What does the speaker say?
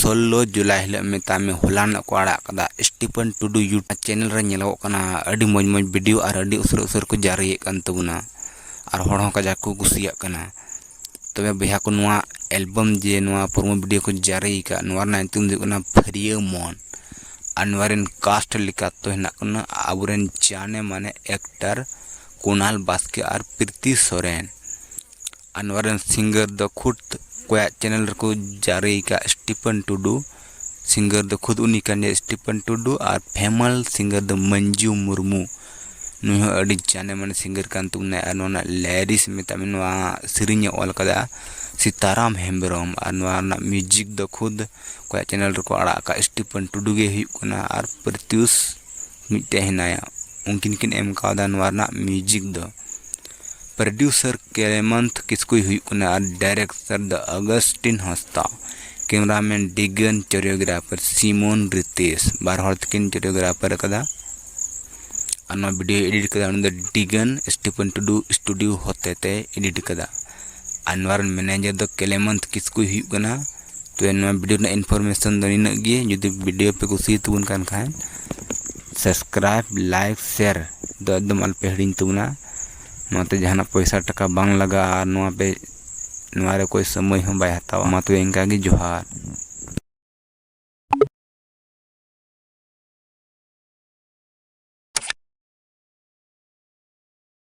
ᱥᱳᱞᱞᱳ ᱡᱩᱞᱟᱭ ᱦᱤᱞᱳᱜ ᱢᱮᱛᱟᱭ ᱢᱮ ᱦᱚᱞᱟᱱᱚᱜ ᱠᱚ ᱟᱲᱟᱜ ᱟᱠᱟᱫᱟ ᱥᱴᱤᱯᱷᱟᱱ ᱴᱩᱰᱩ ᱭᱩᱴᱩᱵᱽ ᱪᱮᱱᱮᱞ ᱨᱮ ᱧᱮᱞᱚᱜᱚᱜ ᱠᱟᱱᱟ ᱟᱹᱰᱤ ᱢᱚᱡᱽ ᱢᱚᱡᱽ ᱵᱷᱤᱰᱤᱭᱳ ᱟᱨ ᱟᱹᱰᱤ ᱩᱥᱟᱹᱨᱟ ᱩᱥᱟᱹᱨᱟ ᱠᱚ ᱡᱟᱹᱨᱤᱭᱮᱫ ᱠᱟᱱ ᱛᱟᱵᱚᱱᱟ ᱟᱨ ᱦᱚᱲ ᱦᱚᱸ ᱠᱟᱡᱟᱠ ᱠᱚ ᱠᱩᱥᱤᱭᱟᱜ ᱠᱟᱱᱟ ᱛᱚᱵᱮ ᱵᱚᱭᱦᱟ ᱠᱚ ᱱᱚᱣᱟ ᱮᱞᱵᱟᱢ ᱡᱮ ᱱᱚᱣᱟ ᱯᱨᱳᱢᱳ ᱵᱷᱤᱰᱤᱭᱳ ᱠᱚ ᱡᱟᱹᱨᱤ ᱟᱠᱟᱫ ᱱᱚᱣᱟ ᱨᱮᱱᱟᱜ ᱧᱩᱛᱩᱢ ᱫᱚ ᱦᱩᱭᱩᱜ ᱠᱟᱱᱟ ᱯᱷᱟᱹᱨᱭᱟᱹ ᱢᱚᱱ ᱟᱨ ᱱᱚᱣᱟ ᱨᱮᱱ ᱠᱟᱥᱴ ᱞᱮᱠᱟᱛᱮ ᱫᱚ ᱦᱮᱱᱟᱜ ᱠᱤᱱᱟᱹ ᱟᱵᱚ ᱨᱮᱱ ᱡᱟᱱᱮ ᱢᱟᱱᱮ ᱮᱠᱴᱟᱨ ᱠᱩᱱᱟᱞ ᱵᱟᱥᱠᱮ ᱟᱨ ᱯᱨᱤᱛᱤ ᱥᱚᱨᱮᱱ ᱟᱨ ᱱᱚᱣᱟ ᱨᱮᱱ ᱥᱤᱝᱜᱟᱨ ᱫᱚ ᱠᱷᱩᱫᱽ ᱚᱠᱚᱭᱟᱜ ᱪᱮᱱᱮᱞ ᱨᱮᱠᱚ ᱡᱟᱹᱨᱤ ᱟᱠᱟᱫ ᱥᱴᱤᱯᱷᱟᱱ ᱴᱩᱰᱩ ᱥᱤᱝᱜᱟᱨ ᱫᱚ ᱠᱷᱩᱫᱽ ᱩᱱᱤ ᱠᱟᱱ ᱜᱮᱭᱟᱭ ᱥᱴᱤᱯᱷᱟᱱ ᱴᱩᱰᱩ ᱟᱨ ᱯᱷᱮᱢᱟᱞ ᱥᱤᱝᱜᱟᱨ ᱫᱚ ᱢᱟᱹᱱᱡᱩ ᱢᱩᱨᱢᱩ ᱱᱩᱭ ᱦᱚᱸ ᱟᱹᱰᱤ ᱡᱟᱱᱮ ᱢᱟᱱᱮ ᱥᱤᱝᱜᱟᱨ ᱠᱟᱱ ᱛᱟᱵᱚᱱᱟᱭ ᱟᱨ ᱱᱚᱣᱟ ᱨᱮᱱᱟᱜ ᱞᱟᱭᱨᱤᱥ ᱢᱮᱛᱟᱜ ᱢᱮ ᱱᱚᱣᱟ ᱥᱮᱨᱮᱧᱮ ᱚᱞ ᱠᱟᱫᱟ ᱥᱤᱛᱟᱨᱟᱢ ᱦᱮᱢᱵᱨᱚᱢ ᱟᱨ ᱱᱚᱣᱟ ᱨᱮᱱᱟᱜ ᱢᱤᱭᱩᱡᱤᱠ ᱫᱚ ᱠᱷᱩᱫᱽ ᱚᱠᱚᱭᱟᱜ ᱪᱮᱱᱮᱞ ᱨᱮᱠᱚ ᱟᱲᱟᱜ ᱟᱠᱟᱫ ᱥᱴᱤᱯᱷᱟᱱ ᱴᱩᱰᱩ ᱜᱮ ᱦᱩᱭᱩᱜ ᱠᱟᱱᱟ ᱟᱨ ᱯᱨᱚᱛᱭᱩᱥ ᱢᱤᱫᱴᱮᱡ ᱦᱮᱱᱟᱭᱟ ᱩᱱᱠᱤᱱ ᱠᱤᱱ ᱮᱢ ᱠᱟᱣᱫᱟ ᱱᱚᱣᱟ ᱨᱮᱱᱟᱜ ᱢᱤᱭᱩᱡᱤᱠ ᱫᱚ ᱯᱨᱚᱰᱭᱩᱥᱟᱨ ᱠᱮᱨᱮᱢᱟᱱᱛᱷ ᱠᱤᱥᱠᱩᱭ ᱦᱩᱭᱩᱜ ᱠᱟᱱᱟ ᱟᱨ ᱰᱟᱭᱨᱮᱠᱴᱚᱨ ᱫᱚ ᱟᱜᱚᱥᱴᱤᱱ ᱦᱟᱸᱥᱫᱟ ᱠᱮᱢᱮᱨᱟᱢᱮᱱ ᱰᱤᱜᱟᱱ ᱪᱚᱨᱤᱭᱳᱜᱨᱟᱯᱷᱟᱨ ᱥᱤᱢᱚᱱ ᱨᱤᱛᱮᱥ ᱵᱟᱨ ᱦᱚᱲ ᱛᱮᱠᱤᱱ ᱪᱚᱨᱤᱭᱳᱜᱨᱟᱯᱷᱟᱨ ᱟᱠᱟᱫᱟ ᱟᱨ ᱱᱚᱣᱟ ᱵᱷᱤᱰᱭᱳᱭ ᱮᱰᱤᱴ ᱟᱠᱟᱫᱟ ᱩᱱᱤ ᱫᱚ ᱰᱤᱜᱟᱱ ᱥᱴᱤᱯᱷᱮᱱ ᱴᱩᱰᱩ ᱥᱴᱩᱰᱤᱭᱳ ᱦᱚᱛᱮᱛᱮᱭ ᱮᱰᱤᱴ ᱟᱠᱟᱫᱟ ᱟᱨ ᱱᱚᱣᱟ ᱨᱮᱱ ᱢᱮᱱᱮᱡᱟᱨ ᱫᱚ ᱠᱮᱞᱮᱢᱚᱱᱛ ᱠᱤᱥᱠᱩᱭ ᱦᱩᱭᱩᱜ ᱠᱟᱱᱟ ᱛᱚ ᱱᱚᱣᱟ ᱵᱷᱤᱰᱤᱭᱳ ᱨᱮᱱᱟᱜ ᱤᱱᱯᱷᱚᱨᱢᱮᱥᱚᱱ ᱫᱚ ᱱᱤᱱᱟᱹᱜ ᱜᱮ ᱡᱩᱫᱤ ᱵᱷᱤᱰᱤᱭᱳ ᱯᱮ ᱠᱩᱥᱤᱭᱟ ᱛᱟᱵᱚᱱ ᱠᱟᱱ ᱠᱷᱟᱱ ᱥᱟᱵᱥᱠᱨᱟᱭᱤᱵᱽ ᱞᱟᱭᱤᱠ ᱥᱮᱭᱟᱨ ᱫᱚ ᱮᱠᱫᱚᱢ ᱟᱞᱚᱯᱮ ᱦᱤᱲᱤᱧ ᱛᱟᱵᱚᱱᱟ ᱱᱚᱣᱟᱛᱮ ᱡᱟᱦᱟᱱᱟᱜ ᱯᱚᱭᱥᱟ ᱴᱟᱠᱟ ᱵᱟᱝ ᱞᱟᱜᱟᱜᱼᱟ ᱟᱨ ᱱᱚᱣᱟ ᱯᱮ ᱱᱚᱣᱟ ᱨᱮ ᱚᱠᱚᱭ ᱥᱚᱢᱚᱭ ᱦᱚᱸ ᱵᱟᱭ ᱦᱟᱛᱟᱣᱟ ᱢᱟ ᱛᱚᱵᱮ ᱤᱱᱠᱟ ᱜᱮ ᱡᱚᱦᱟᱨ